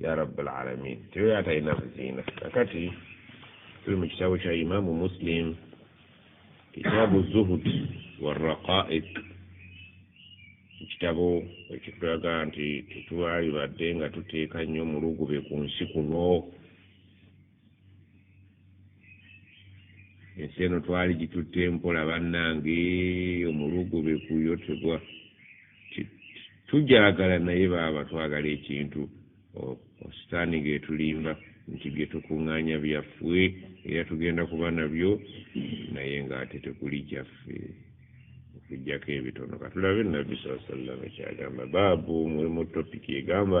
ya rabbal alamin tebeera atalina buziina kakati tuli mu kitabo kya imamu muslim kitabu zuhud waraqaik ekitabo ekitulaga nti tetwalibadde nga tuteeka nnyo mulugube ku nsi kuno ensi eno twali gitutte mpola bannange omulugube kuyo tegwa tugyagala naye baaba twagala ekintu ositaani ng'etulimba nti bye tukuŋŋaanya byaffe era tugenda kuba nabyo naye ng'ate tekuli gyaffe okujjako ebitono katulabe nabbi saa sallama kyagamba baabu mulimu topiki egamba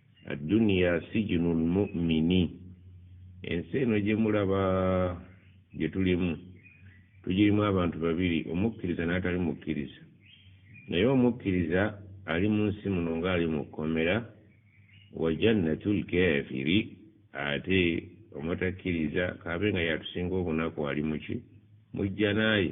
adduniya sijunu lmumini ensi eno gye mulaba gye tulimu tugirimu abantu babiri omukkiriza n'atali mukkiriza naye omukkiriza ali mu nsi muno ng'ali mu kkomera wa jannatu lkafiri ate omutakkiriza kaabe nga yatusinga obunaku ali muki mujjanaaye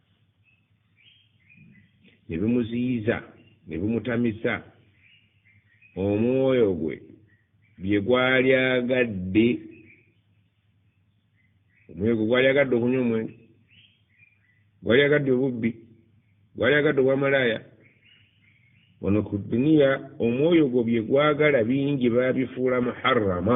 ne bimuziyiza ne bimutamisa omwoyo gwe bye gwali agadde omwoyo gwe gwali agadde okunywa omwenge gwali agadde obubbi gwali agadde obwamalaaya wano ku duniya omwoyo gwo bye gwagala bingi babifuula muharrama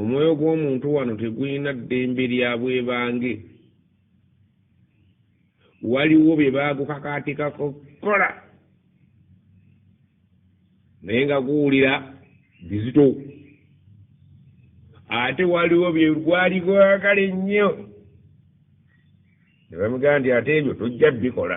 omwoyo gw'omuntu wano tegulina ddembe lya bwebange waliwo bye baagukakaatikako kola naye nga guwulira bizito ate waliwo bye gwali gwagala ennyo ne bamugamba nti ate ebyo tojja bikola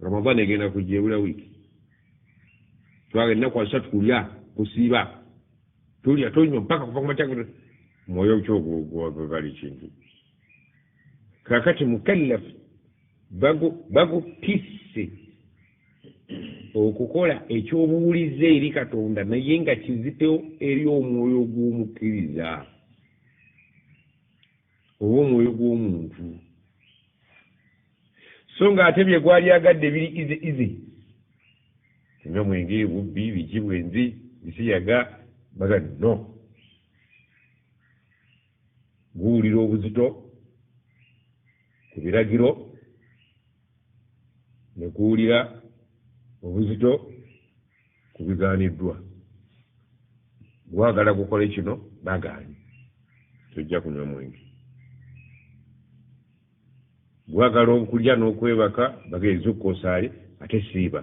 ramadan egenda kujja ebula wiiki twaga ennaku asatu kulya kusiiba tulya tonywa mpaka kuva kumatyagero mwoyo kyogwali kintu kakati mukallaf bagutisse okukola ekyobuwulize eri katonda naye nga kizitewo eri omwoyo gw'omukkiriza oba omwoyo gw'omuntu so nga ate bye gwali agadde biri izi izi nga mwenge bubbi biki bwenzi bisiyaga baga no guwulira obuzito ku biragiro ne guwulira obuzito ku bigaaniddwa gwagala gukole kino bagaanyi tojja kunywa mwenge Gwagala okulya nokwebaka bagee zukka osaale ate siiba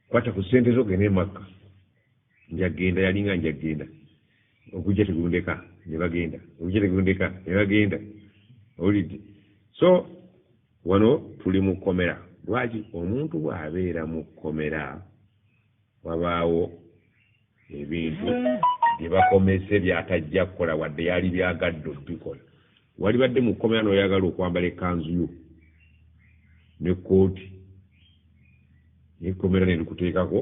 kwata ku sente zo gende emakka njagenda yalinga njagenda ogujja tegundeka nebagenda ogujja tegundeka nebagenda olidde so wano tuli mu kkomera lwaki omuntu bw'abeera mu kkomera wabaawo ebintu bye bakomese by'atajja kukola wadde yali byagadde okubikola walibadde mu kkomera n'oyagala okwambala ekkanzu yo ne kkooti nekkomera nerikuteekako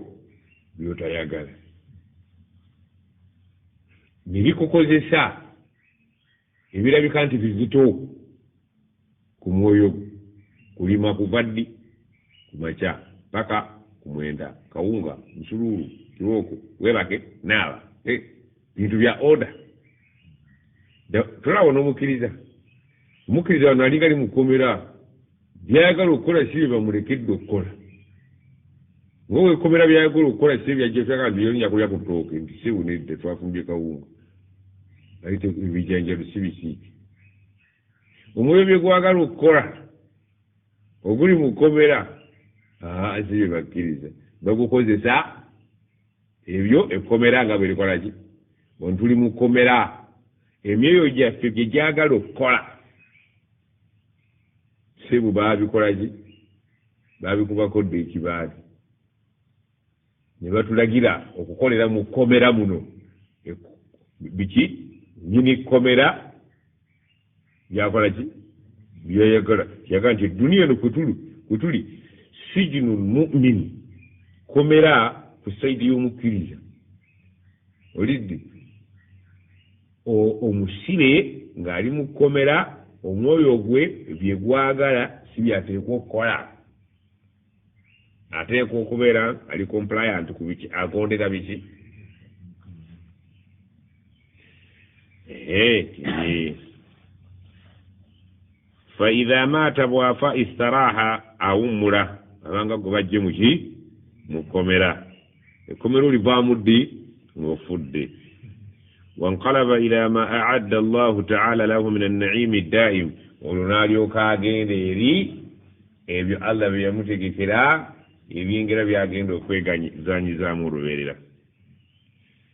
byotayagala nebikukozesa Ebirabika nti bizito ku mwoyo gwo kulima kuva ddi? Ku makya paka ku mwenda, kawunga, musuluulu, kibooko, webake, naaba, eh, bintu bya order. Tolaba onomukiriza, omukiriza wano alinga li mukomera. byayagala okukola si bye bamulekedde okukola nga wekomera byayagala okukola si ebyajjataka nti yonya kulya ku tooke nti si bunedde twafumbye kawunga ayite ebijanjalo si bisiiki omwoyo bye gwagala okukola oguli mu kkomera aa si bye bakkiriza bagukozesa ebyo ekkomera nga bwe likola ki ontuli mu kkomera emyoyo gyaffe gye gyagala okukola sebu baabikolaki baabikubako dda ekibaati ne batulagira okukolera mu kkomera muno biki nyini kkomera byakola ki byeyagala yaga nti eduniya eno kwetuli kwetuli sijinu mumin kkomera ku saidi y'omukkiriza olidde Omusibe ng'ali mu kkomera, omwoyo gwe bye gwagala si by'ateekwa okukola. Ateekwa okubeera ali compliant ku biki, agondera biki. Faidha maata bw'afa istaraaha, awummula, abanga gwe baggye mu ki? Mu kkomera. ekkomera olivaamu ddi ng'ofudde wankalaba ila ma aadda allahu taala lahu min annaimi daimu olwo n'alyoka agenda eri ebyo allah bye yamutegekera ebyengera byagenda okweganyizanyizaamu olubeerera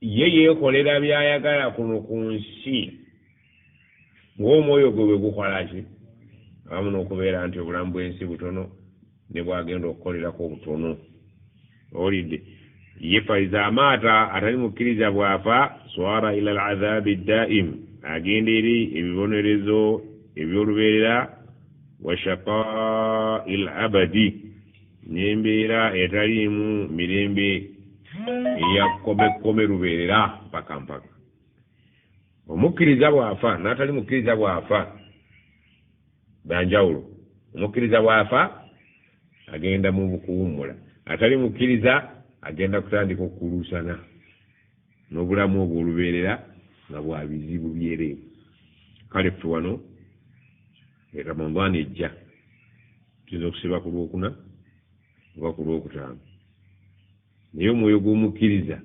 ye yeekolera by'ayagala kuno ku nsi ng'omwoyo gwe bwe gukola ki awamu n'okubeera nti obulamu bw'ensi butono ne bwagenda okukolerako obutono owulidde ye faiza amaata atali mukkiriza bw'afa swara ila al adhabi daim agenda eri ebibonerezo eby'olubeerera wa shaqaa il abadi n'embeera etaliimu mirembe eya kkomekkome lubeerera mpaka mpaka omukkiriza bw'afa n'atali mukkiriza bw'afa byanjawulo omukkiriza bw'afa agenda mu bukuwummula atali mukkiriza agenda kutandika okukuluusana n'obulamu obwo olubeerera nga bwa bizibu byereere kale ffe wano e ramadhan ejja tuyinza okusiba ku lwokuna oba ku lwokutaano naye omwoyo gw'omukkiriza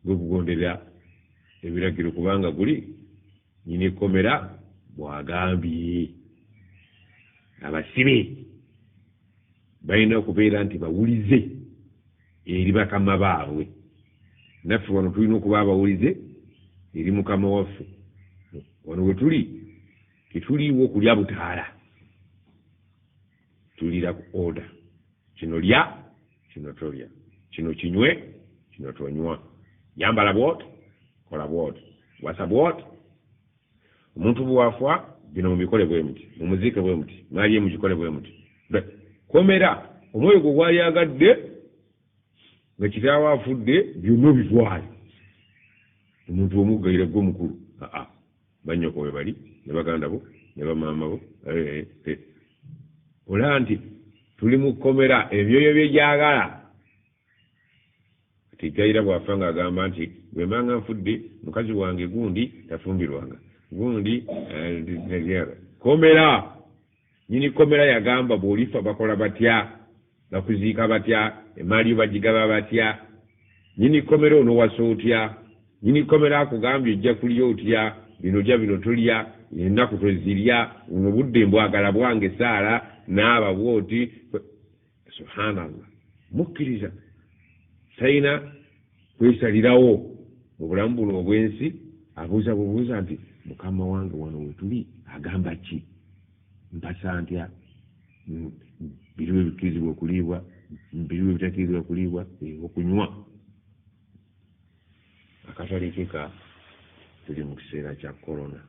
gwe gugondera ebiragiro kubanga guli nyina ekkomera bwagambye abasibe balina okubeera nti bawulize eri bakama baabwe naffe wano tulina okuba abawulize eri mukama waffe wano we tuli tetuliiwo okulya butaala tulira ku oda kino lya kino tolya kino kinywe kino tonywa yambala bwoti kola bwoti wasa bwoti omuntu bwafa bino mubikole bwe muti mumuziike bwe muti maali ye mugikole bwe muti komera omwoyo gwe gwayagadde nga kitaawo afudde byonna obitwale omuntu omuggaire gwe mukulu aa banyoko we bali ne baganda bo ne bamaama bo eh, eh. olaba nti tuli mu kkomera ebyoyo bye gyagala Kati Kayira bw'afa ng'agamba nti bwe mbanga nfudde mukazi wange gundi tafumbirwanga gundi eh, komera nyini komera yagamba bw'olifa bakola batya bakuziika batya emaali yo bagigaba batya nyini komera onowasa otya nyini komera akugambye ojja kulya otya bino lya bino tulya ennaku twezirya buno budde mbwagala bwange saala naaba bwoti subhanallah mukkiriza talina kwesalirawo mu bulamu buno obw'ensi abuuza bubuuza nti mukama wange wano wetuli agamba ki mpasa ntya biriwo ebikkirizibwa okuliibwa biriwo ebitakkirizibwa okuliibwa okunywa akatale keka tuli mu kiseera kya korona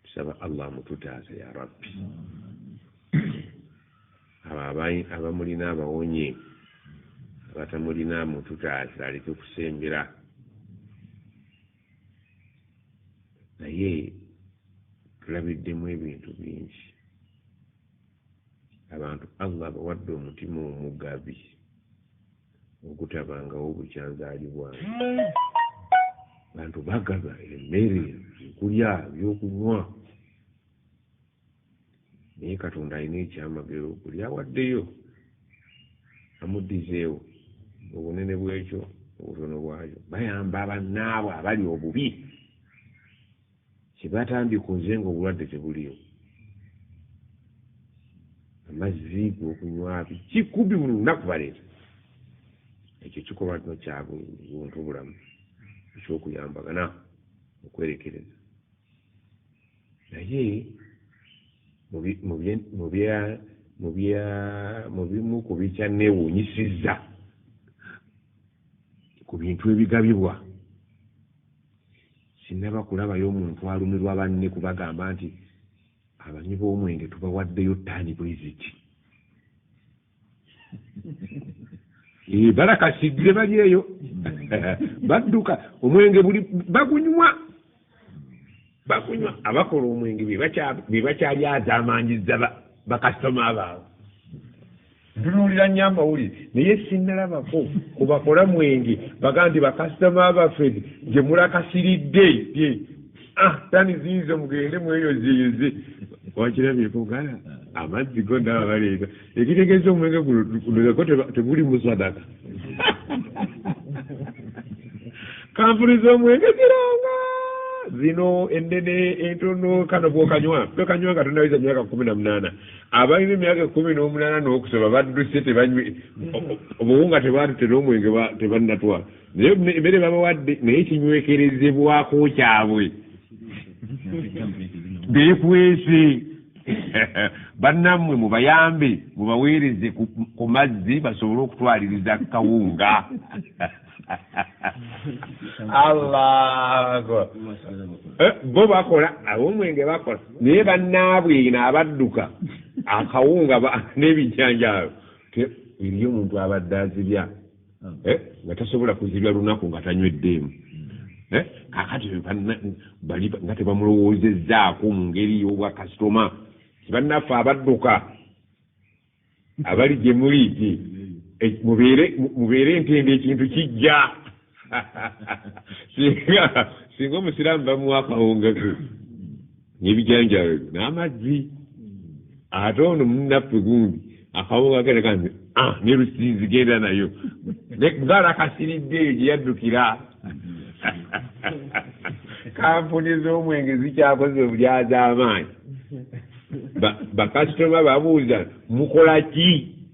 Tusaba Allah amututaase ya Rabbi. Abo abamulina abawonye abatamulina amututaase aleke kusembera naye tulabiddemu ebintu bingi abantu Allah abawadde omutima omugabi. ogutabangawo bukya nzaalibwange. Abantu bagaba emmere, ebyokulya, ebyokunywa. Naye Katonda alina ekyamagero buli awaddeyo amuddizeewo obunene bw'ekyo obutono bwayo. Bayamba bannaabwe abali obubi. Kyebatambye ku nze nga obulwadde tebuliyo. Amazzi gokunywa biki kubi buli lunaku baleeta. Ekyo kikolwa nti kya buntu bulamu ekyokuyambagana okwerekereza. Naye mu bimu ku bikyanneewuunyisizza ku bintu ebigabibwa, Sinnaba kulabayo muntu alumirwa banne kubagamba nti abanywi b'omwenge tubawaddeyo ttaani bwe ziti. Ee, balakasidde bali eyo badduka omwenge buli bagunywa. bakunywa abakola omwenge bebakyalyazamanyiza bakasitoma baabwe ntunuulira nnyo amawulire naye sinnalabako kubakola mwenge baga nti bakasitoma baffe gye mulakasiridde ye ah, tani ziizo mugende mweyozeyoze wakirabyeko gala amazzi go ndaba baleeta ekitegeza omwenge gunoyako teguli musadaka kampuni z'omwenge ziranga zino enene entono kano bwokanywa tokanywa nga tonawiza myaka kumi na munaana abalina emyaka ekumi n'omunaana n'okusaba badduse tebanywe obuwunga tebaatute n'omwenge tebannatwala naye ne- emere babawadde naye kinywekerezebwako kyabwe bekwese bannamwe mubayambe mubaweereze ku ku mazzi basobole okutwaliriza kawunga allahu akbar Eh, bo bakola abomwenge bakola naye bannaabwe ino abadduka akawunga ba- n'ebijanjaalo Te- eriyo omuntu abadde azibya eh, nga tasobola kuzibya lunaku nga tanyweddeemu hmm. eh, kakati bali nga tebamulowoozezzaako mu ngeri y'obwakasitoma tibannaffe abadduka abali gye muli ti eh, mubeere ntende ekintu kijja singa singa omusiraamu bamuwa akawungaku nebijanjalo ebyo n'amazzi ate ono munaffe gundi akawunga agereka nti ah, ne lusinzi genda nayo ngaalakasiridde eyo gye yaddukira kampuni z'omwenge zikyakoze obulyaza amaanyi bakasitoma babuuza mukola ki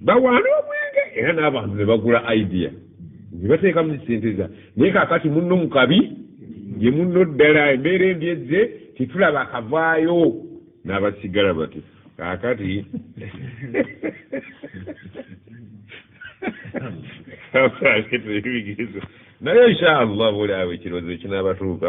bawaana omwenge era n'abantu ne bagula idea ne bateeka mu sente za naye kakati munno mu kabi ye munno ddala embeera embi ezze tetulaba akavaayo n'abasigala bati kakati naye inshallah buli awo ekirowoozo kinaabatuuka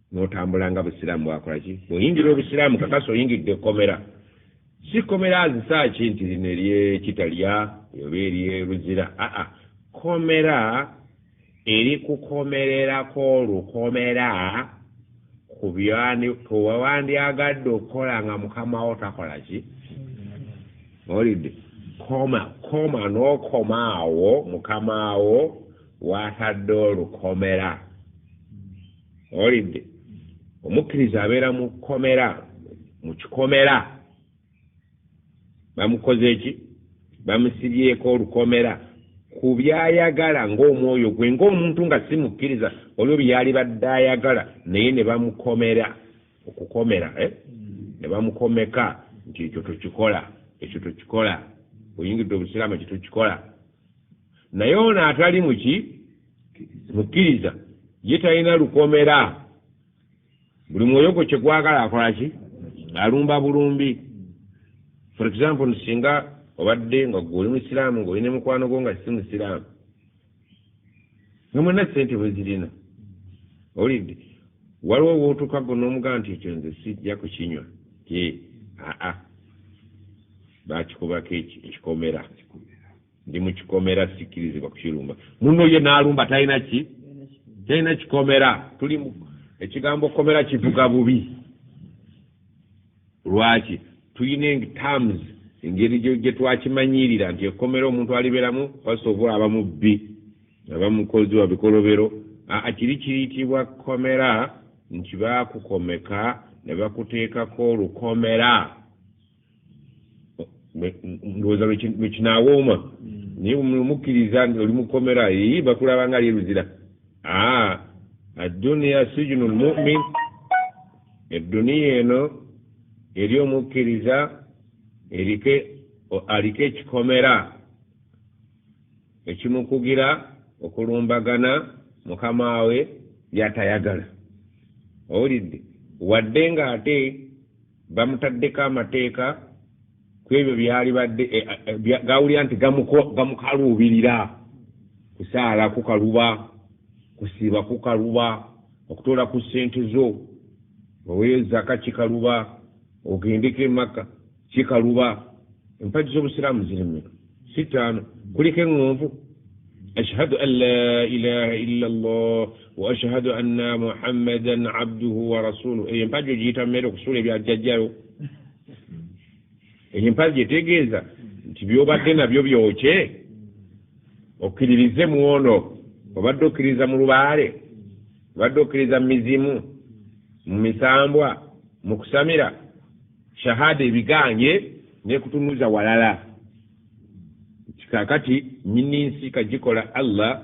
notambula nga busiraamu bwakola ki bweyingira obusiraamu kakasa oyingidde ekkomera si kkomera azisa ki nti lino eryekitalya oba eryeruzira aa kkomera erikukomererako olukomera ku byewewandyagadde okukola nga mukamawo takola ki olidde koma koma n'okoma awo mukama wo watadde olukomera owulidde omukkiriza abeera mu kkomera mu kikomera bamukoze eki bamusibyeko olukomera ku byayagala ng'omwoyo gwe ng'omuntu nga si mukkiriza olwo byeyali badde ayagala naye ne bamukomera okukomera eh? ne bamukomeka nti ekyo tokikola ekyo tokikola oyingidde obusiraamu ekyo tokikola naye ono atali muki mukkiriza ye talina lukomera buli mwoyo gwe kyegwagala akolaki alumba bulumbi for example singa obadde nga gwe oli musiraamu nga olina mukwano gwo nga si musiraamu nga mwena sente bwezirina owulidde waliwo wotuka gwe nomugaa nti ekyo nze sijja kukinywa aa bakikubako ekikomera ndi mukikomera sikirizibwa kukirumba muno ye nalumba talina ki talina kikomera tuli ekigambo komera kivuga bubi lwaki tulina terms engeri gyetwakimanyirira nti ekomera omuntu aliberamu fasovu aba mubbi aba mukozi wa bikolobero akiri kiyitibwa komera nti bakukomeka ne bakuteekako olukomera ndowooza lwekinawooma mm. naye mukkiriza nti oli mukomera ii bakulaba nga lyeruzira aa adduniya sijunu lmumin edduniya eno eri omukkiriza erike aliko ekikomera ekimukugira okulumbagana mukama we byatayagala owulidde wadde ng'ate bamutaddeko amateeka ku ebyo byalibadde eh, eh, gawulira nti gamukaluubirira kusaala kukaluba kusiiba kukaluba okutoola ku ssente zo oweyo zaka kikaluba ogendeko emakka kikaluba empagi z'obusiraamu zirimeka si ttaano kuliko eŋŋonvu ashhadu an la ilaha illa llah wa ashhadu anna muhammadan abduhu wa rasuluh eyo empagi ogiyita mumere okusuula ebyajjajjayo eyo empagi etegeeza nti byobadde nabyo byokye okkiririze muono obadde okkiririza mu lubaale obadde okkiririza mu mizimu mu misambwa mu kusamira shahada ebigaanye nekutunuza walala kikakati nyini nsi kagikola allah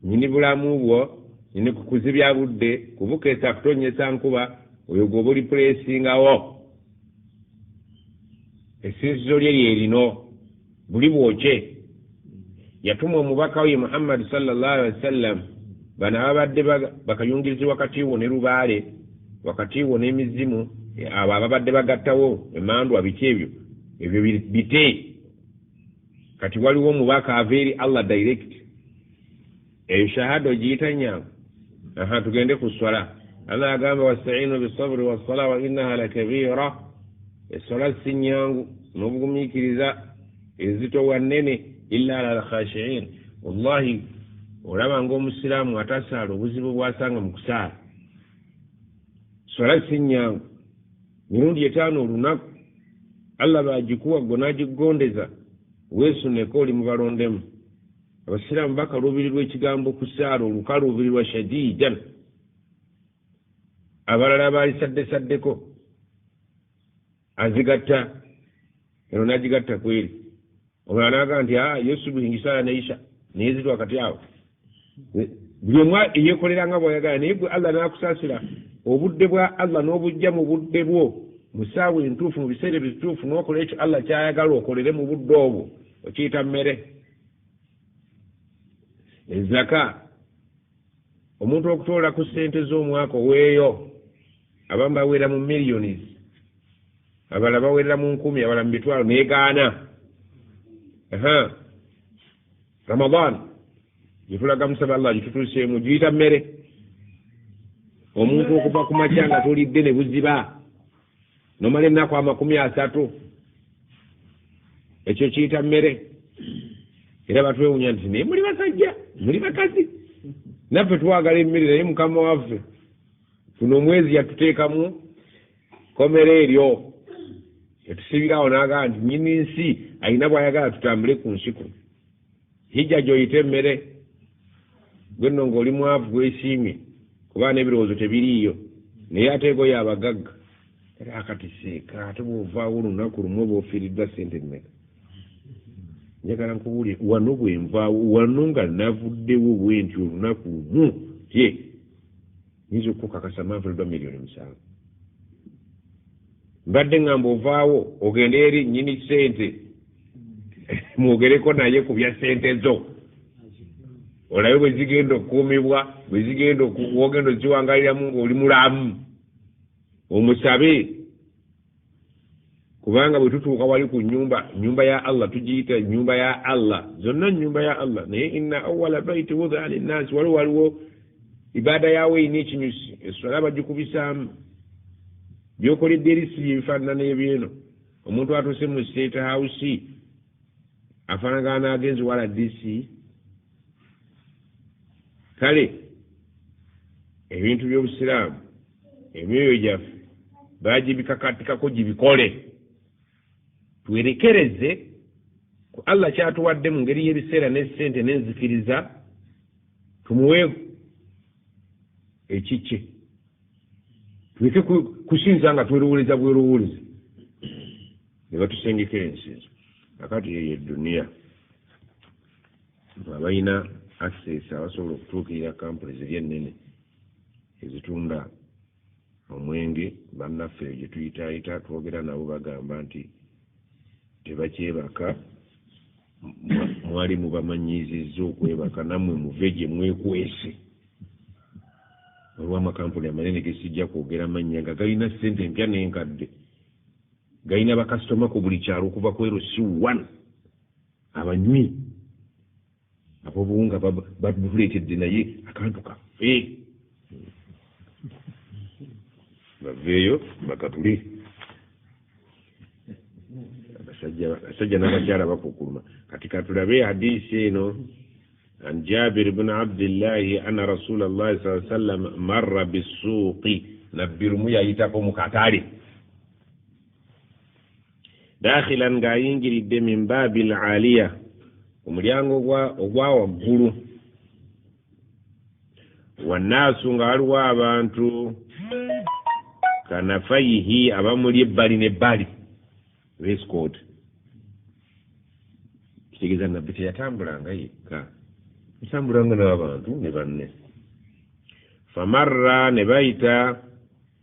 nyini bulamu bwo nyini kukuzibya budde kubukesa kutonyesa nkuba oyo gwoba oli pulesingawo esinzizo lye lyerino buli bwokye yatuma omubaka we muhammadi salllah alihi wasallam bano ababadde bakayungirizi wakati wo ne lubaale wakati wo n'emizimu abo ababadde bagattawo emandwa biki ebyo ebyo bite kati waliwo omubaka ava eri allah direct eyo shahada ogiyita nyangu aha tugende ku swala allah agamba wastainu bisaburi wassala wa innaha lakabira eswala si nyangu n'obugumiikiriza ezito wa nnene illa ala alkhashiin wallahi olaba ngaomusiraamu atasaala obuzibu bwasanga mu kusaala swala si nyangu mirundi etaano olunaku allah bagikuwa gwe n'agigondeza weesuneko oli mu balondemu abasiraamu bakaluubirirwa ekigambo kusaala olukaluubirirwa shadiidan abalala abaalisaddesaddeko azigatta eno nagigatta kweri omulala naga nti a ah, yosubuhingisaala naisha naye zitwa kati awo buli omu eyekolera nga bwayagala naye gwe allah nakusaasira obudde bwa allah n'obujja mu budde bwo mu saawa entuufu mu biseera ebituufu n'okola ekyo allah kyayagala okolere mu budde obwo okiyita mmere ezaka omuntu okutoola ku ssente z'omwaka oweeyo abamu bawerera mu millions abala bawerera mu nkumi abala mu mitwalo negaana ramadan gyetulaga musaba allah gitutuuseemu giyita mmere omuntu okuva ku makya nga tulidde ne buziba nomala ennaku amakumi asatu ekyo kiyita mmere era batwewunya nti naye muli basajja muli bakazi naffe twagala emmere naye mukama waffe guno omwezi yatuteekamu komera eryo etusibirawo nagamba nti nyini nsi alina bwayagala tutambule ku nsi kuno hijja gyoyita emmere gwe nno ng'oli mwavu gwesiimye kuba n'ebirowoozo tebiriiyo naye ate ego yabagagga era akati seeka ate bw'ovaawo olunaku lumu oba ofiiriddwa ssente mmeka njagala nkubuulire wano bwe nvaawo wano nga navuddewo bwe nti olunaku lumu ye nyinza okukukakasa manfulidwa miliyoni musanvu mbadde ŋŋamba ovaawo ogende eri nnyini ssente mwogereko naye ku bya ssente zo olabe bwe zigenda okukuumibwa bwe zigenda wogenda oziwangaliramu ng'oli mulamu omusabe kubanga bwe tutuuka wali ku nyumba nyumba ya allah tugiyita nyumba ya allah zonna nyumba ya allah naye inna awala baiti wudaa linnaasi waliwo waliwo ibaada yaawo erina ekinyusi eswala bagikubisaamu byokoledde eri si byebifaanana ebyeno omuntu atuuse mu state house afaanagana n'agenzi wala dc kale ebintu by'obusiraamu emyoyo gyaffe bagibikakatikako gibikole twerekereze ku allah kyatuwadde mu ngeri y'ebiseera n'essente n'enzikiriza tumuwe ekikye tuleke kusinza nga twerowooleza bwerowooleza ne batusengekera ensinza akati yeyo eduniya abalina access abasobola okutuukirira kampuni ziri ennene ezitunda omwenge bannaffe eyo gye tuyitaayita twogera nabo bagamba nti tebakyebaka mwali mubamanyiizizza okwebaka nammwe muve gye mwekwese waliwo amakampuni amanene gesijja kwogera mannya nga galina ssente empya n'enkadde galina bakasitoma ku buli kyalo okuva ku erosi one abanywi abobuwunga batuletedde naye akantu kaffe baveeyo bakatule abasajja n'abakyala bakukuluma kati katulabe hadisi eno an jabir bn abdillahi anna rasula llahi saa sallam marra bissuuqi nabbi lumu yayitako mu katale dakhilan ng'ayingiridde min baabi l aliya omulyango ogwa waggulu wannaasu nga waliwo abantu kanafayihi abamuli ebbali n'ebbali rescod kitegeeza nabbi teyatambulanga yekka yatambulanga n'abantu ne banne famarra ne bayita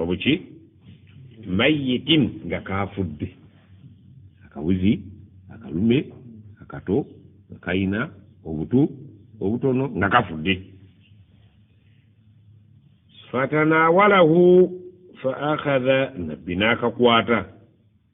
obuki mayitin nga kaafudde akabuzi akalume akato nga kalina obutu obutono nga kafudde fatanawalahu fa akhadha nabbi n'akakwata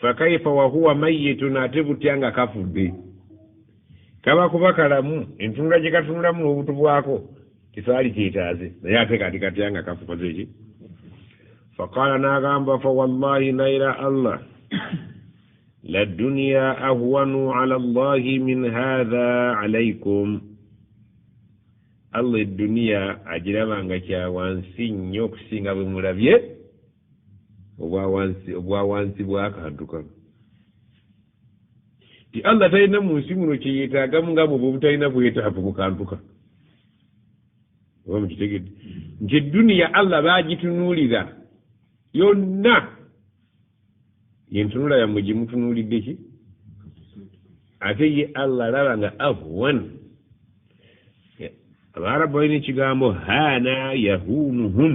fakaifa wahuwa mayitun ate butya nga kafudde kaba kuba kalamu entunula gye katunulamu n'obutu bwako tesaali kyetaaze naye ate kati katya nga kafukoze eki faqaala n'agamba fa wallahi naira allah ladduniya ahwanu ala llahi min hatha alaikum allah edduniya agiraba nga kyawansi nnyo okusinga bwe mulabye obwa wansi bw'akantu kano ti allah talina mu nsi muno kyeyetaagamu nga bwoba obutalina bwetaavu mu kantu kano oba mukitegedde nti edduniya allah baagitunuulira yonna yentunula yammwe gye mutunuulidde ki ate ye allah alaba nga ahwan abaarabu balina ekigambo haana yahunuhum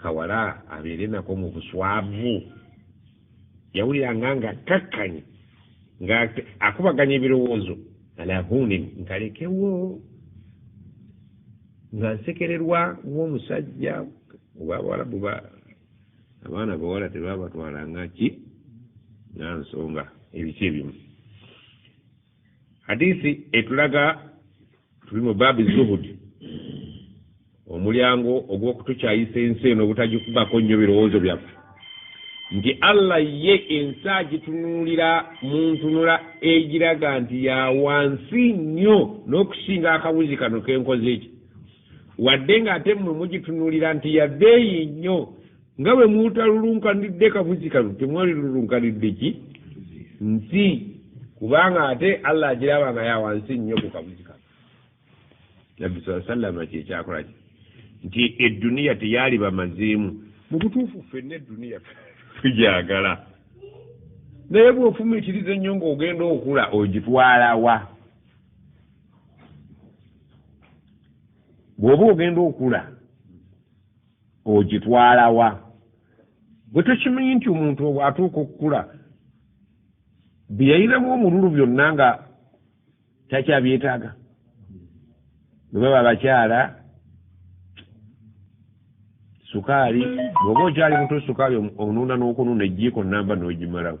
kawala abeere nako mu buswavu yawuliranga nga akkakkanye nga akubaganya ebirowoozo alahunin nkalekewo nga nsekererwa ng'omusajja obabawalabu ba abaana bawala tebabatwalanga ki nga nsonga ebiki ebimu hadisi etulaga tuli mu baabi zuhudi omulyango ogw'okutukyayisa ensi eno obutagikubako nnyo birowoozo byaffe nti allah ye ensi agitunuulira mu ntunula egiraga nti ya wansi nnyo n'okusinga akabuzi kano kenkoze eki wadde ng'ate mmwe mugitunuulira nti yabeeyi nnyo nga bwe mutalulunkanidde kafuzi kano temwali lulunkanidde ki nsi kubanga ate allah agiraba nga yawansi nnyo ku kafuzi kano nabbi saa sallama kyekyakola ki nti edduniya teyali bamazeemu mu butuufu ffenna edduniya tugyagala naye bwofumiitiriza ennyo ng'ogenda okula ogitwalawa bw'oba ogenda okula ogitwalawa bwe tukimanyi nti omuntu obwatuuka okukula byeyayinamu omululu byonna nga takyabyetaaga bwe baba abakyala sukaali bwoba okyali muto sukaali onuuna n'okunuuna ejjiiko namba n'ogimalawo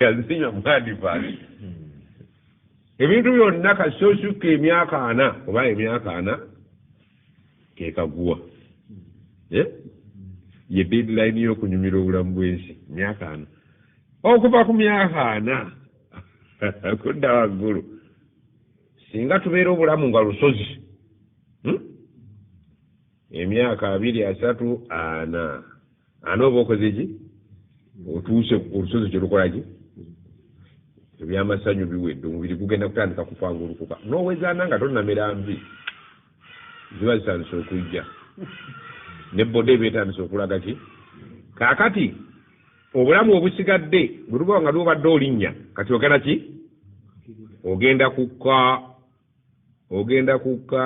yazinywa mwadivaali ebintu byonna kasita osukka emyaka ana oba emyaka ana kekaguwa eh? ye deadline yokunyumira obulamu bwensi myaka ana okuva ku myaka ana kudda waggulu singa tubeera obulamu nga lusozi hmm? emyaka abiri asatu ana ani oba okoze ki otuuse olusozi kyelukolaki ebyamasanyu biwedde omubiri gugenda kutandika kupangulukuka nowezaana nga tonamera nvi ziba zitandise okujja ne boda eba etandise okulaga ki kakati obulamu obusigadde bwetuba nga lwobadde olinnya kati ogenda ki ogenda kukka ogenda kukka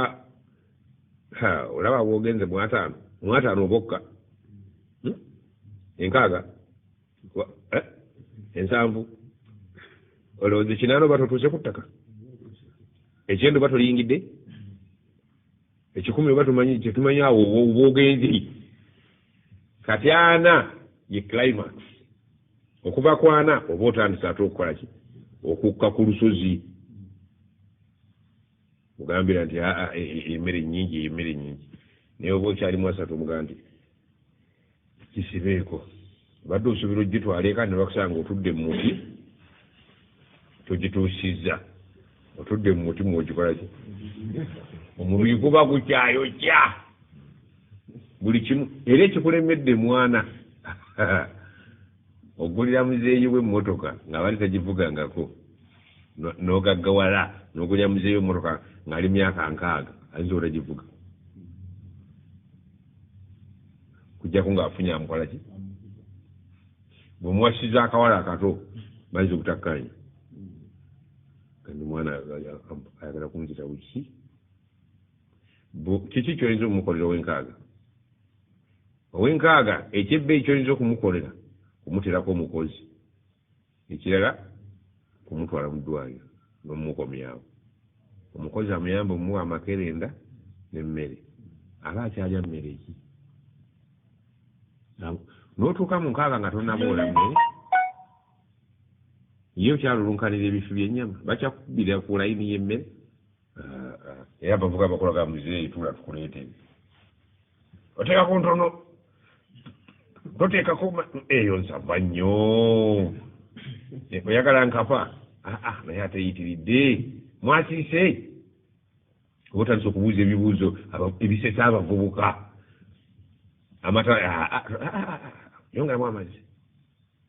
olaba bwogenze mwataano mwataano obokka hmm? enkaaga eh? ensanvu olowooza ekinaano oba totuuse ku ttaka ekyendo oba toliyingidde ekikumi oba tumanyi kyetumanyi awo obwogenzi kati ana ye climax okuva ku ana oba otandise ate okukola ki okukka ku lusozi mugambira nti aa e, e, e, emmere nyingi eyo emmere nyingi naye oba okyali mwasatu omugaa nti kisibeeko badde osuubira ogitwaleeka ne bakusanga otudde mu muti togituusizza otudde mu muti mwogikola ki omubiri guba gukyayokya buli kimu era ekikulemedde mwana ogulira muzeeyi we mmotoka ng'abali tagivugangako n'ogaggawala n'ogulira muzeeyi we mmotoka ng'ali myaka nkaaga ayinza otagivuga kujjako ng'afunye amukola ki bwemuwasiza akawala akato bayinza obutakkanya kandi mwana ayagala kunzita wiki kiki kyoyinza okumukolera owenkaaga owenkaaga ekyebbeeyi kyoyinza okumukolera kumuterako omukozi ekirala kumutwala mu ddwaliro nomumukomyawo omukozi amuyamba omuwa amakerenda nemmere aba akyalya mmere ki notuuka mu nkaaga nga tonaboola mmere ye okyalulunkanira ebifi byenyama bakyakubbira ku layini yemmere era bavuga abakola ga muzeeyi tuula tukuleetee oteekako ntono toteekako eyo nsava nnyo oyagala nkapa aa naye ateyitiridde mwasiise oba otandisa okubuuza ebibuuzo ebisesa abavubuka amata yongeramu amazzi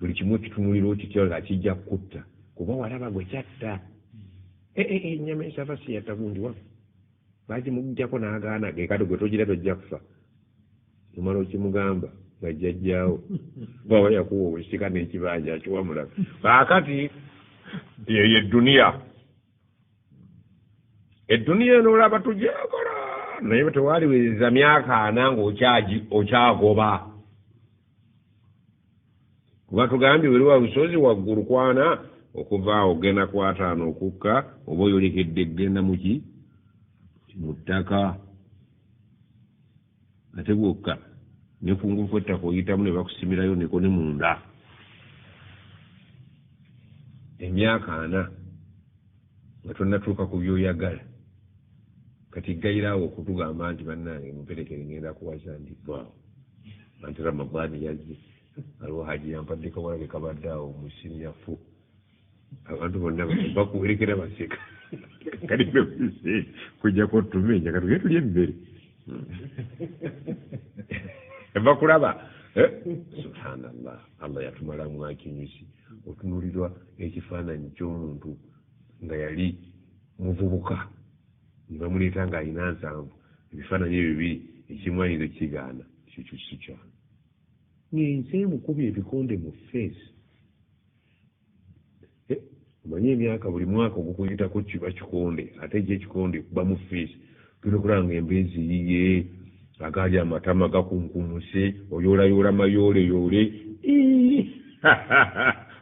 buli kimu okitunulira okitya nga kijja kukutta kuba walaba gwe kyatta eh, eh, eh, enyama esava siyatta gundi wa bagimugjako n'agaana ge kati gwe togira tojja kufa omala okimugamba nga jjajjaawo bwaba yakuwa obusika n'ekibanja akiwamulaba kaakati eyo edduniya edduniya eno olaba tujakola naye bwetewaliwiriza myaka ana nga okyagoba kuba tugambye weriwa lusozi waggulu kwana okuva awo genda kwataano okukka oba oyolekedde genda muki mu ttaka ate bwokka ne ku ngufu ettaka oyitamu ne bakusimirayo neko ne munda emyaka ana nga tonnatuuka ku byoyagala kati gayiraawo okutugamba nti bannange muperekere ngenda kuwaza ndi vaawo anti ramadaani yazze aliwo haji yampadde kawalage kabadde awo mu siniyafu abantu bonna bakuwerekera baseka kati kujjako tumenya katuge tuli emmere bakulaba eh? subhanallah allah yatumalamu akinyusi otunulirwa ekifaananyi ky'omuntu nga yali muvubuka ne bamuleeta ng'alina nsanvu ebifaananyi ebyo biri ekimu ayinza ekigaana ekyo kyo si kyange ng'ensi emukubye ebikonde mu feesi eh, omanyi emyaka buli mwaka ogukuyitako kiba kikonde ate ekyo ekikonde kuba mu fiisi tulina okulanga embeezi yiye agaali amatama gakunkumuse oyoolayoola mayooleyoole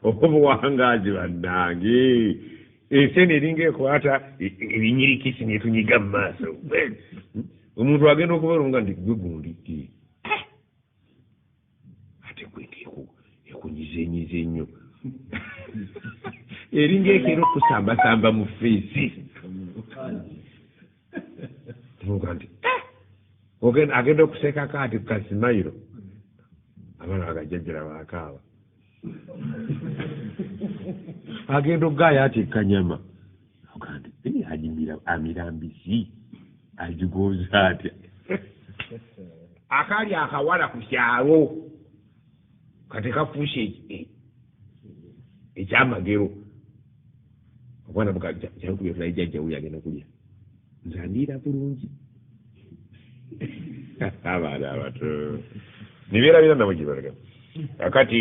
obuwangaazi bannange ensi eno eringa ekwata e, e, ebinyirikisi netunyiga mu maaso omuntu agenda okubalonga nti gwe gundi Ate gwe ngeku ekunyizenyiza ennyo eringa ekeera okusambasamba mu feesi tuvuga nti eh! agenda okuseekako ati kukasimayiro abaana bagajajjala bakaaba agenda okugaaya ati kanyama Ogambye eh, anyumira amira mbizi agigonza atya akali akawala ku kyalo kati kafuuse eh, ekyamagero obwana bukakyakubyotulayi jajjawu yagenda okulya nze andiira bulungi abaana abato nibeerabira nabo gyebalagamu akati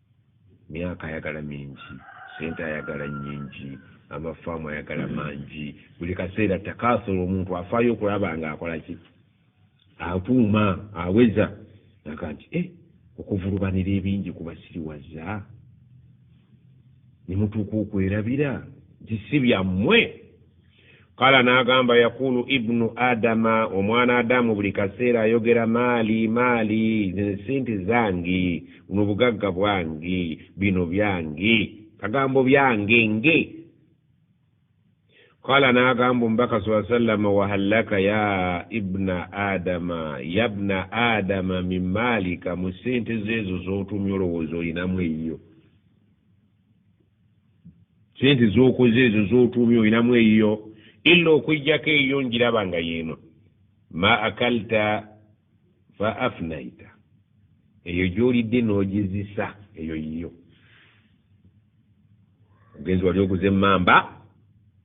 Myaka ayagala mingi, sente ayagala nyingi, amafaamu ayagala mangi, buli kaseera takaasola omuntu afaayo okulaba nga akolaki akuuma aweza aga nti e eh, okuvulubanira ebingi kubasiriwaza nemutuuka okwerabira nti si byammwe kala n'agamba yakulu ibnu adama omwana adamu buli kaseera ayogera maali maali zino sente zange buno bugagga bwange bino byange kagambo byange nge kala n'agamba omubaka saa sallama wahallaka ya ibna adama yabna adama min maalika mu sente zeezo z'otumya olowooza olinamu eyiyo sente zokoze ezo zotuumye olinamu eyiyo ila okwejjako eyiyo njiraba nga yeeno ma akalta fa afnaita eyo gyolidde nogizisa eyo yiyo ogenzi wali okuza emmamba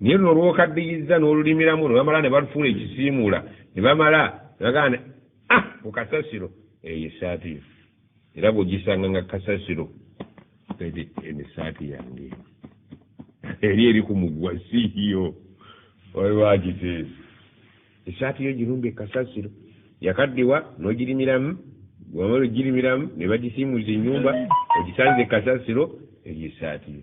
naye luno olwokaddiyizza n'olulimiramu ne bamala ne balufuula ekisiimuula ne bamala ne bagamba ne ah ku kasasiro eyo essaati yo era bw'ogisanga nga kasasiro edi eno essaati yange eri eri ku mugwa siiyo waliwagiteezi essaati yo girumba ekasasiro yakaddiwa n'ogirimiramu wamala ogirimiramu ne bagisiimuuza ennyumba ogisanze ekasasiro eyo essaati yo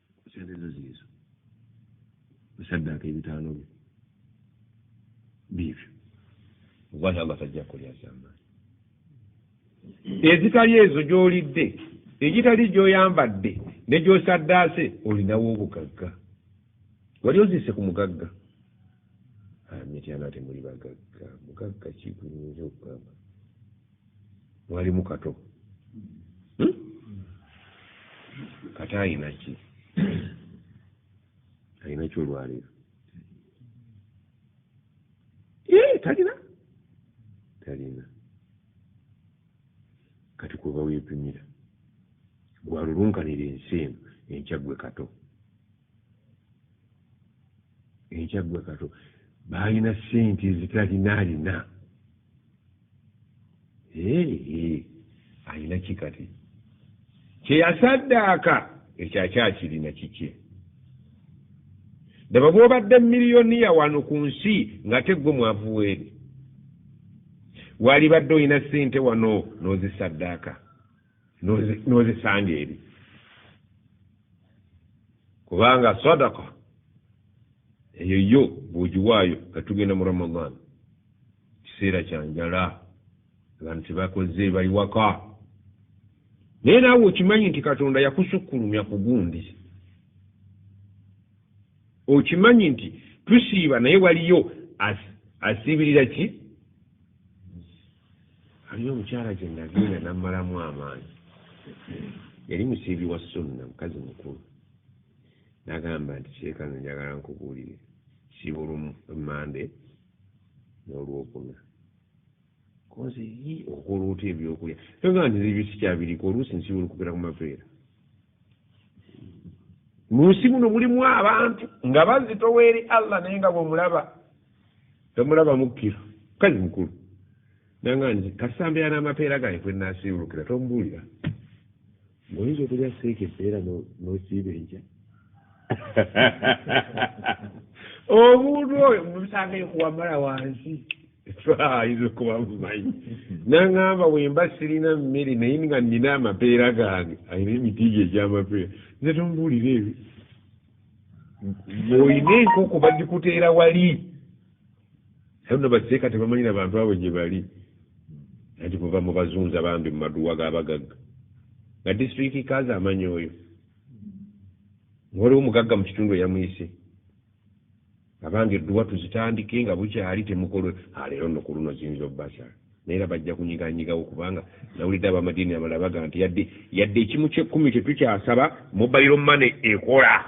sente zo ziizo musaddaaka ebitaano byo biibyo ogwahi allah tajja kulya zamaani ezitali ezo gy'olidde egitali gy'oyambadde ne gy'osaddaase olinawo obugagga wali oziise ku mugagga amityana ah, temuli bagagga mugagga kiguyinza okugamba mwalimu kato hmm? kata ayinaki ayinaki olwaleero eh, talina talina kati kuba wepimira gwalulunkanira ensi eno enkyagwe kato enkyagwe kato baalina sente ezitalina alina alina ki kati kyeyasaddaaka ekyo akyakirina kikye daba bwobadde miliyoniya wano ku nsi ngate gwe mwavuweeri walibadde olina sente wano n'ozisaddaaka n'ozisanga eri kubanga sadaka eyo yo bw'ogiwaayo nga tugenda mu ramadan kiseera kya njala abantu tebakoze bali waka naye naawe okimanyi nti katonda yakusukkulumya ku gundi okimanyi nti tusiiba naye waliyo asiibirira ki Waliyo omukyala gye nazinga nammalamu amaanyi yali musiibi wa sunna mukazi mukulu nagamba nti sheeka nze njagala nkubuulire siibulu mande n'olwokuna koze yi okwolwota ebyokulya toga nti ebyo sikyabiriko oluusi nsiibulu kugera ku mapeera mu nsi muno mulimu abantu nga bazitowa eri allah naye nga bwomulaba tomulaba mukkira mukazi mukulu nanga nze kasambira n'amapeera gange kwe nasiibulukira tomubuulira ngaoyinza okulya seeka empeera nosiiba enkya omuntu oyo musange kuwamala wansi ayinza okuba mumanyi nangamba wemba sirina mmere naye nga nina amapeera gange ayina emiti gye egyamapeera nze tomubuulira ebyo ng'olina enkoko bagikuteera wali ayo no baseeka tebamanyira bantu abo gye bali anti kuva mu bazunza bambi mu maduwa g'abagagga nga disitulikiti kaazi amanyi oyo nga waliwo mugagga mu kitundu eyamuyise Abange dduwa tuzitandike nga bukyali temukolwe a leero nno kuluno ziyinza obbasa naye era bajja kunyiganyigawo kubanga nawulidde abamadiini amalala bagamba nti yadde yadde ekimu kyekkumi tetukyasaba mobile money ekola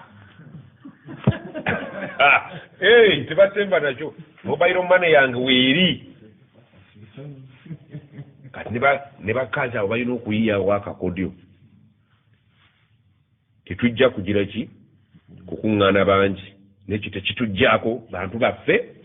eh, tebasemba nakyo mobile money yange weeri kati ne bakazi abo balina okuyiyawo akakodyo Tetujja kugira ki kukuŋŋaana bangi, n'ekyo tekituggyako bantu baffe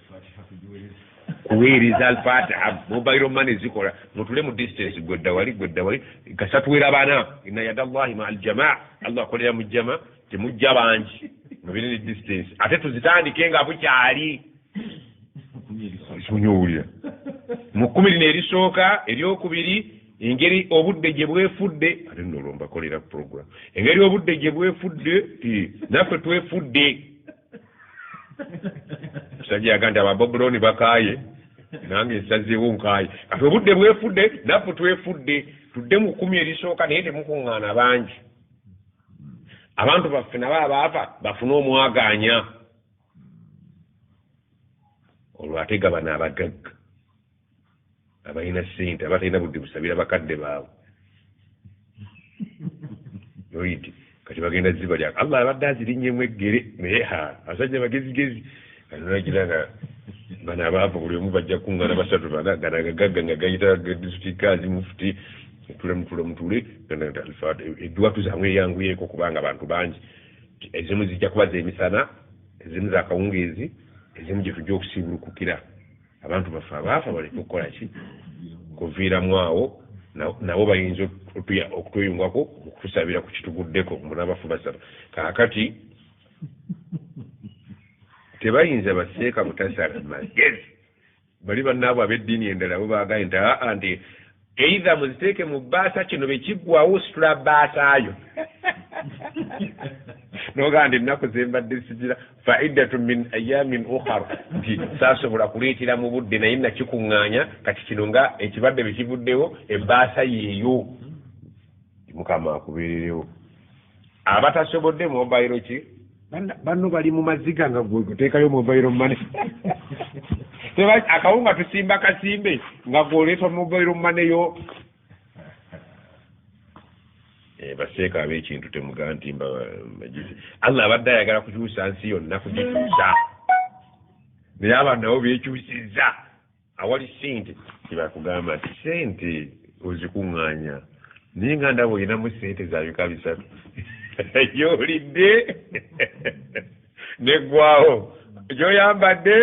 kuweereza. Al-Fatiha, mobile money zikola. Mutuule mu distance, ggwe dda wali, ggwe dda wali, kasita tuwerabana. Inna yada Allahi ma'a al-jamaa, Allah akolera mu jama, temujja bangi, mubeere ne distance. Ate tuzitandike nga bukyali. Mukume erisooka. Mukume lino erisooka, ery'okubiri. engeri obudde gye bwefudde ate nno olwo mbakolera program engeri obudde gye bwefudde naffe twefudde musajja yaga nti ababobulooni bakaaye nange nsazeewo nkaaye kati obudde bwefudde naffe twefudde tudde mu kkumi erisooka naye temukuŋŋaana bangi abantu baffe nabo abaafa bafune omwagaanya olwo ate gabana abagagga abalina sente abatalina budde busabira bakadde baabwe oid kati bagenda ziba lya allah abadde azirinyemu eggere naye ha abasajja bagezigezi anonagira nga bano abaavu buli omu bajja kungana basatu bana gana gagagga nga gayita disitikazi mufuti tule mutule mutule edwatu zamwe eyanguyeeko kubanga abantu bangi ezimu zijja kuba zemisana ezimu zakawungeezi ezimu gyetujja okusiibulukukira abantu baffe abaafa baleke okukola ki kuviiramu awo nabo bayinza okutweyungako okutusabira ku kituguddeko munabafu basaba kaakati tebayinza baseeka butasala magezi bali bannaabwe ab'eddiini endala bo baagaye nti aa nti Either muziteeke mu bbaasa kino bwe kiggwawo ositula bbaasaayo nogaa nti ennaku ze mbadde sigira faidatu min ayamin ukhar nti saasobola kuleetera mu budde naye nakikuŋŋaanya kati kino nga ekibadde bwe kivuddewo ebbaasa yeeyo mukama akubeererewo abatasobodde mobile ki banno bali mu maziga nga gwegutekayo mobile mane akawunga tusimba kasimbe nga gwoleeta mobile mane yo eh, baseeka abekintu temuga nti mbajizi allah abadde ayagala kukyusa nsi yonna kugikyusa naye abantu nabo bekyusiza awali sente kyebakugamba nti sente ozikuŋŋanya naye nga ndaba olinamu sente zabika bisatu gyolidde neggwawo gyoyambadde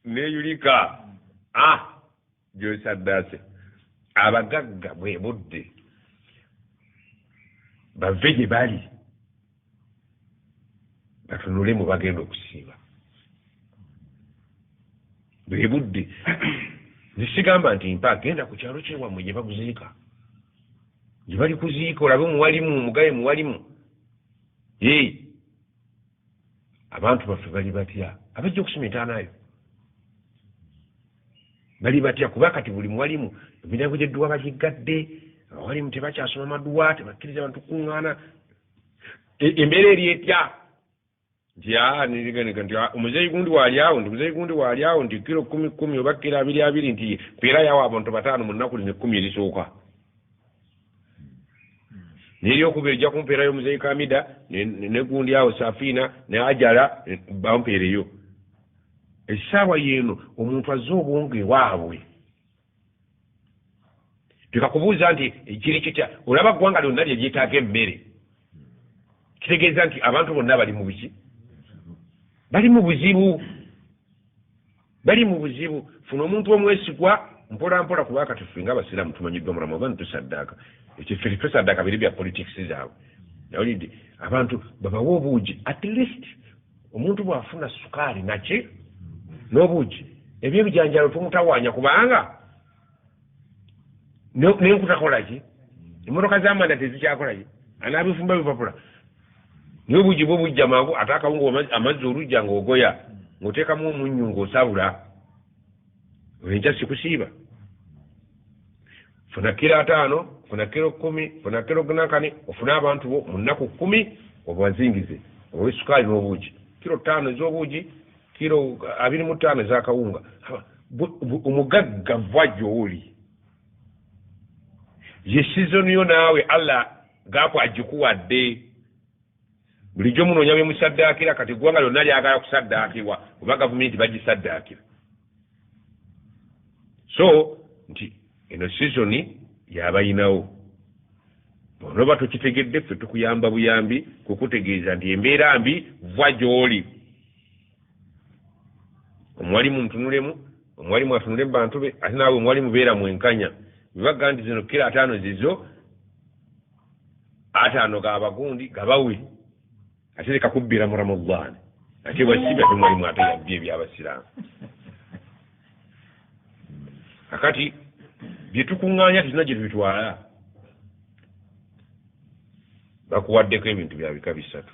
neyulika a ah, gyosaddaase abagagga bwe budde bave gye bali batunule mu bagenda okusiiba bwe budde nesigamba nti mpa genda ku kyalo kyewammwe gye bakuziika gye bali kuziika olabe muwalimu omugaye muwalimu ee abantu baffe bali batya abajja okusima entaanayo bali batya kuba kati buli muwalimu emiryango gyedduwa bagiggadde abawalimu tebakyasoma maduwa tebakkiriza abantu kukuŋŋaana e, embeera eri etya nti ah, niganeka nti ah, omuzeeyi gundi waali awo nti omuzeeyi gundi waali awo nti kiro kumi kumi oba kiro abiri abiri nti mpeera yawo abantu bataano mu nnaku lino ekkumi erisooka neryokuba ejja kumpeera yo omuzeeyi kamida negundi awo safiina ne ajala bampeereyo essaawa yeeno omuntu azze obwongo ewaabwe leka kubuuza nti kiri kitya olaba ggwanga lyonna lye lyetaaga emmere kitegeeza nti abantu bonna bali mu buzi bali mu buzibu bali mu buzibu funa omuntu omwesigwa mpola mpola kuba kati ffe nga abasiraamu tumanyiddwa mu ramadan tusaddaaka ekyo ffe tusaddaaka biri bya politics zaabwe nawulidde abantu babawe obuugi at least omuntu bw'afuna sukaali naki n'obuugi ebyebijanjalo tumutawaanya kubanga nenkutakolaki emmotoka z'amanda tezikyakolaki anaabifumba bipapula naye obuugi bwo bujja mangu ate akawungu amazzi olujja ng'ogoya ng'oteekamu omunnyu ng'osabula enkya sikusiiba funa kiro ataano funa kiro kumi funa kiro gnakane ofune abantu bo mu nnaku kumi obazingize owe sukaali n'obuugi kiro ttaano ez'obuugi kiro abiri mu ttaano ez'akawunga omugagga va gy'oli ye sizoni yo naawe allah gaakwagikuwadde Bulijjo munoonya be musaddaakira, kati eggwanga lyonna lyagala kusaddaakirwa oba gavumenti bagisaddaakira. So nti eno sizoni yabayinawo onoba tokitegedde ffe tukuyamba buyambi kukutegeeza nti embeera mbi va gy'oli omuwalimu mutunulemu omuwalimu atunule mubantu be ate naawe omuwalimu beera mwenkanya bebagga nti zino kira ataano zizo ate ano gabagundi gabawe ate leka kubbira mu ramadaani ate bwasiba temwalimu ate yabbi ebyabasiraamu kakati byetukuŋŋaanya tulina gye tubitwala bakuwaddeko ebintu bya bika bisatu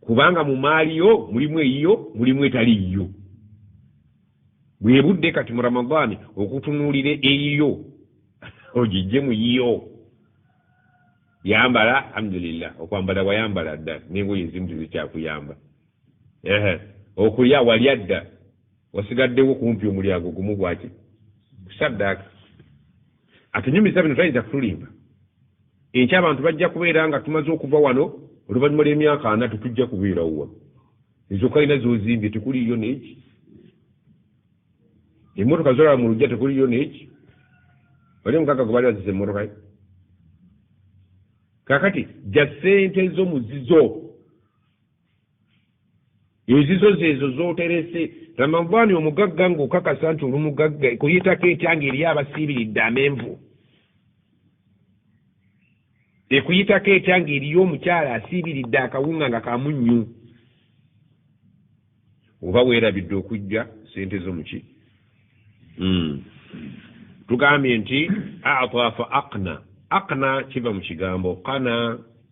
kubanga mu maali yo mulimu eyiyo mulimu etali yiyo bwebudde kati mu ramadaani okutunuulira eyiyo ogijje mu yiyo yambala alhamdulillah okwambala wayambala dda nengoye ezimu tezikyakuyamba ehe okulya walya dda wasigaddewo kumpi omulyango gumu gwaki kusaddaaka Atunyumiza bino tayinza kutulimba. Enkya abantu bajja kubeera nga tumaze okuva wano, oluvannyuma lw'emyaka ana tetujja kubeerawo wano. Ezo kalina z'ozimbye tekuliiyo n'eki. Emmotoka zolaba mu lujja tekuliiyo n'eki. Wali omugagga gwe baali baziza emmotoka ye? Kaakati ja ssente zo mu zizo. ezizo zeezo z'oterese ramadaani omugagga ng'okakasa nti oli mugagga ekuyitako etya nga eri abasiibiridde amenvu ekuyitako etya nga eriyo omukyala asiibiridde akawunga nga kamunnyu oba weerabidde okujja sente zo muki hmm. tugambye nti ata fa akna akna kiva mu kigambo kana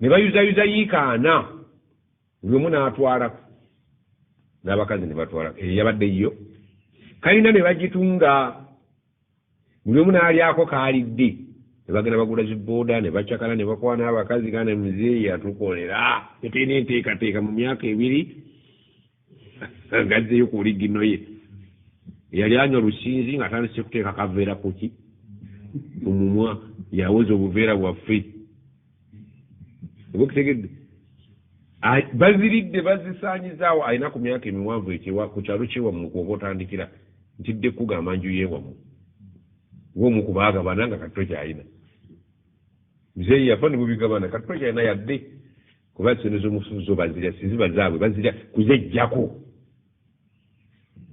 ne bayuzayuza yiika ana buli omu n'atwalako n'abakazi ne batwalako eyo yabadde yiyo kalina ne bagitunga buli omu n'alyako kaalidde ne bagenda bagula zibooda ne bacakala ne bakwana abakazi gana muzeeyi atukolera tetulina enteekateeka mu myaka ebiri gazzeyo ku ligino ye yali anywa lusinzi nga atandise kuteeka kaveera kuki ku mumwa yawoza obuveera bwaffe oba okitegedde baziridde bazisaanyizaawo alina ku myaka emiwanvu ekyewa ku kyalo kyewamu kwoba otandikira ntidde kukugamba nju yewamu womu kubaagabana nga katto kyalina muzeeyi yafa ne bubigabana katto kyalina yadde kuba sente zomufu zo bazira siziba zaabwe bazira kuzejjako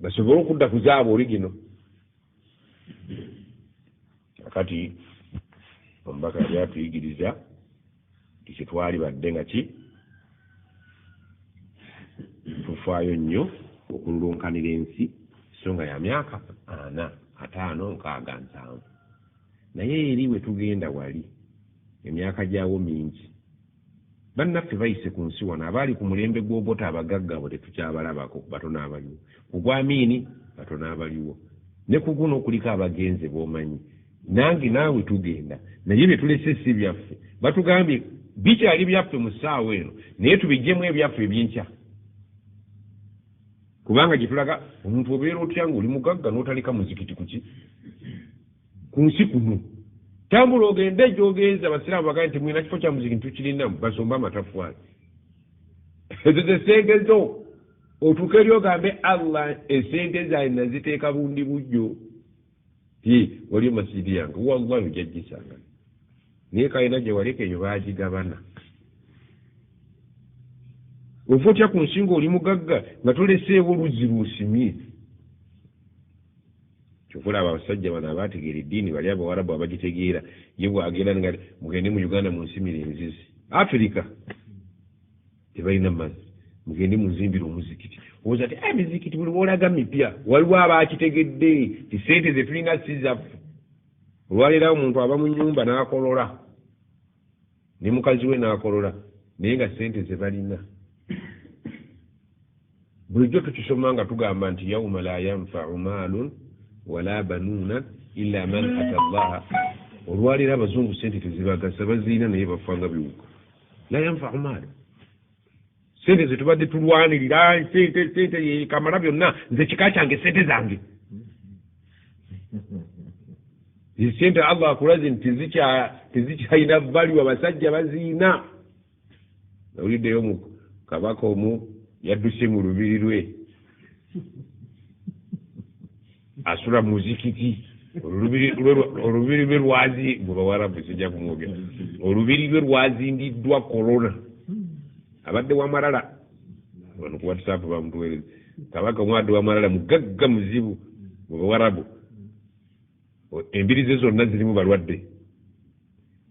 basobole okudda ku zaabwe oligino akati omubaka yali atuyigiriza ti kyetwali badde nga ki tufaayo nnyo okululunkanira ensi so nga ya myaka ana ataano nkaaga nsanvu naye eri wetugenda wali emyaka gyawo mingi Bannaffe bayise ku nsi wano abaali ku mulembe gw'Obote abagagga abo tetukyabalabako, batono abaliwo. Ku gwa Amiini, batono abaliwo. Ne ku guno kuliko abagenze b'omanyi. Nange naawe tugenda. Naye bye tulese si byaffe. Batugambye bikyali byaffe mu ssaawa eno naye tubiggyemu ebyaffe eby'enkya. Kubanga gye tulaga omuntu obeera otya ng'oli mugagga n'otaleka muzikiti ku ki? ku nsi kuno tambula ogende egyogenza abasiraamu bagaa nti mwina kifo kya muziki ntukirinamu basomba amatafwaali ezo zesente zo otuuka eri ogambe allah esente zaali naziteeka bundi bujjo ye waliyo masijidi yange wallahi ojajjisanga naye kalina gye waleka eyo baagigabana ova otya ku nsinga oli mugagga nga toleseewo oluzzi lwosimye Kyova olaba abasajja bano abategeera eddiini bali abawarabu abagitegeera ye bwagenda nga mugende mu uganda munsimire enzizi afirika tebalina mazzi mugende munzimbire omuzikiti owoza ti emizikiti eh, buli wolaga mipya waliwo abakitegedde ti sente zetulina sizaffe olwaleerawo omuntu aba mu nyumba n'akolola ne mukazi we n'akolola naye nga sente ze balina bulijjo tukisoma nga tugamba nti yauma la yanfau maalun wala banuuna ila man ata llaha olwaleero abazungu sente tezibagasa baziina naye bafanga biwuka la yanfau maalu sente zetubadde tulwanirira sente sente kamala byonna nze kika kyange sente zange sente allah akulaze nti tezikyalina valiwa basajja baziina nawuliddeyo mu kabaka omu yadduse mu lubiri lwe asula muzikiti olubiri lwe lwazi mubawarabu sijja kumwogera olubiri lwe lwazindiddwa korona abadde wamalala wano ku whatsapp bamutuwereza kabaka omwadde wamalala mugagga muzibu mubawarabu Embiri ze zonna zirimu balwadde.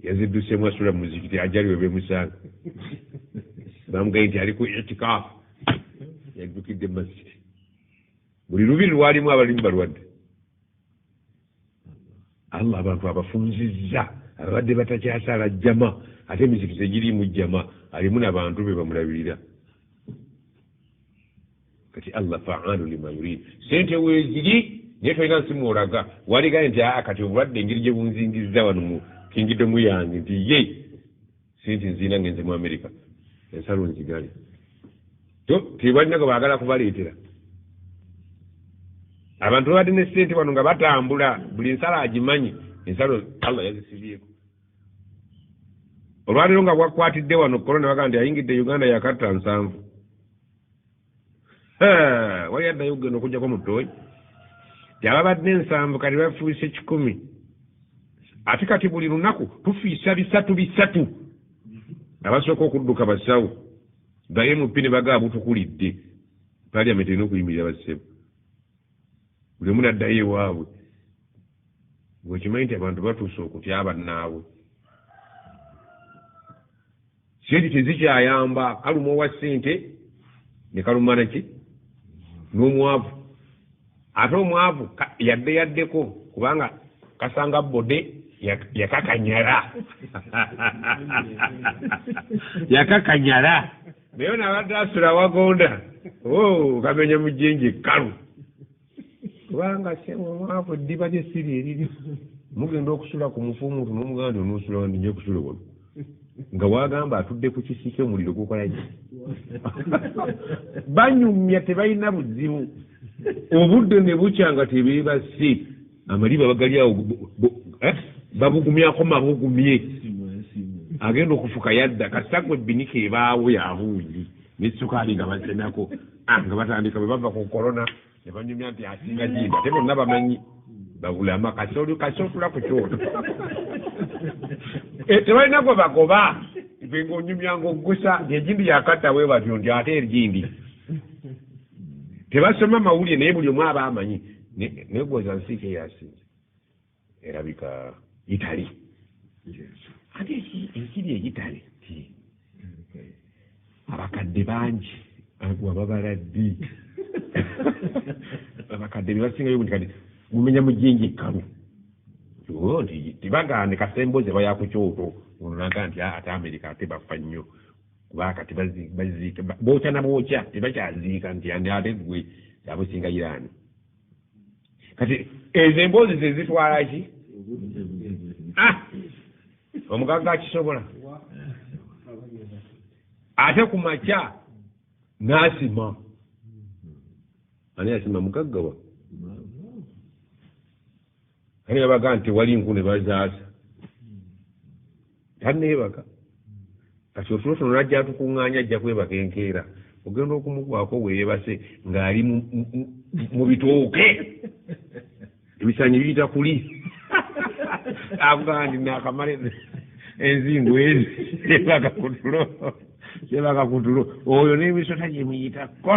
Yazidduseemu asula mu muzikiti ajali we bemusanga. Baamugaye nti ali ku itikaafu. Yaddukidde mu masjidi. Buli lubiri lwalimu abalimu balwadde. Allah abantu abafunzizza ababadde batakyasaala jjama ate emizikiti tegiriimu jjama alimu nabantu be bamulabirira. kati allah faalu lima yurid sente weziri naye tolina nsimu olaga waligaye nti aa kati obulwadde engeri gye bunzingizza wano mu kingidomu yange nti ye sente nziina ngenze mu amerika ensalo nzigale to tebalinaga baagala kubaleetera abantu babadde ne sente wano nga batambula buli nsalo agimanyi ensalo allah yazisibyeko olwaleero nga bwakwatidde wano korona bagaa nti ayingidde uganda yakatta nsanvu wali addayo okugenda okujjako mu ttooyi teababadde ensanvu kati bafuuse kikumi ate kati buli lunaku tufiisa bisatu bisatu abasooka okudduka basawo gaye mupi ne bagaa butukulidde paliament erina okuyimirira bassebo buli omu naddayo ewaabwe gwekimanyi nti abantu batuuse okutya bannaabwe sente tezikyayamba kaluma owa sente nekalumana ki n'omwavu ate omwavu yadde yaddeko kubanga kasanga bode yakakanyala yakakanyala naye nabadde asula wagonda oh, kamenya mujinji kalu kubanga sebo omwavu eddiba lye si lyeriri mugenda okusula ku mufu omuntu nomuganda nti onosula wandi nyo kusula wano nga wagamba atudde ku kisiki omuliro gukolaki banyumya tebalina buzibu obudde ne bukya nga tebeebasi amaliba bagali awo eh, babugumyako mabugumye agenda okufuka yadda kasita gwe binika ebaawo yabuuyi nesukaali nga basenako ah, nga batandika bwe bava ku korona ne banyumya nti asinga jimba te bonna bamanyi babulama kasoli kasotula ku kyoto eh, tebalina gwe bagoba gwe ngaonyumya ngaoggusa ejindi yakatta we batyo nti ate erjindi tebasoma mawulire naye buli omu aba amanyi negwoza nsi kyeyasinza erabika itali ate ensiri eyitale abakadde bangi agwa babala ddi abakadde bebasingayo kati mumenya mujinji ekkalu oh, nti tibagande kasemboze bayakukyoto ononaga nti ah, ate amerika ate bafa nnyo kuba kati baziika bookya na bookya tebakyaziika nti ani ate gwe abusinga irani kati ezo emboozi zezitwala ki ah! omugagga akisobola ate ku makya n'asima ani asima mugaggawa kale yabaga nti wali nku ne bazaasa tanneebaka kati otulo tuno najja atukuŋŋaanya ajja kwebaka enkeera ogenda okumugwako weebase ng'ali mu bitooke ebisanyi biyita kuli avugaa nti naakamala enzingu ezi ebaka kutulo ebaka kutulo oyo n'emisota gye muyitako